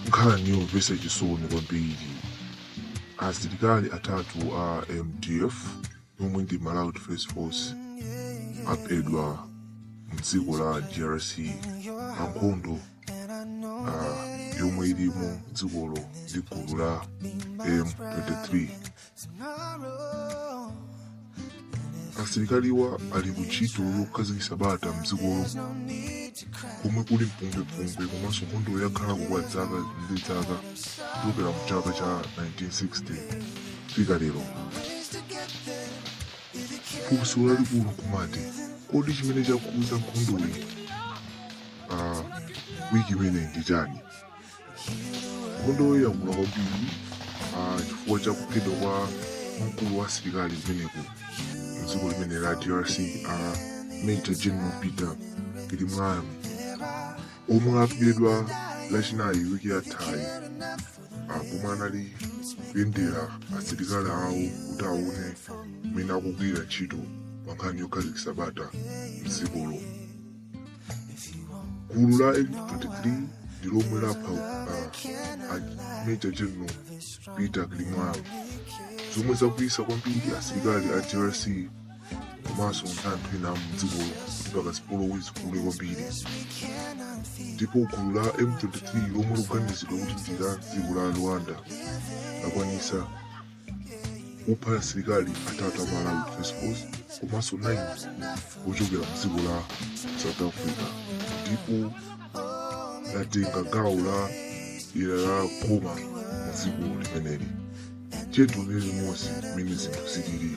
nkhani yomvetsa chisoni kwambiri asilikali atatu a mdf omwe ndi malawi defense force aphedwa mdziko la drc pa nkhondo ah, yomwe ili mdzikolo ndi gulu la m23 asilikaliwa ali ku ntchito yokhazikitsa bata mdzikolo komwe kuli mpungwepungwe komanso nkhondo yakhalako kwa dzaka ndi dzaka kuchokera mu chaka cha 1960 kufika lero funso lalikulu nkumati kodi chimene chakuza nkhondoyi uh, wiki ino ndi chani nkhondoyi yakula kwambiri ah, chifukwa cha kuphedwa kwa mkulu wa asilikali kumeneko mdziko limene la drc a major general peter cirimwami omwe aphedwa lachinayi wiki yathayi ah, pomwe anali kuyendera asilikali awo kuti aone mmene akugwira ntchito pa nkhani yokhazikitsa bata mdzikolo gulu la m23 ndi lomwe lapha uh, a major general peter cirimwami zomwe zakwiyitsa kwambiri asilikali a drc komanso anthu ena amdzikolo mpaka zipolowe zikule kwambiri ndipo gulu la m23 lomwe likuganizidwa kuti ndi la dziko la rwanda lakwanisa kupha asilikali atatu a malawi defense force komanso 9 ochokera mdziko la south africa ndipo latenga gawo la dera la goma mdziko limeneli chetu ndi limodzi mmene zinthu zilili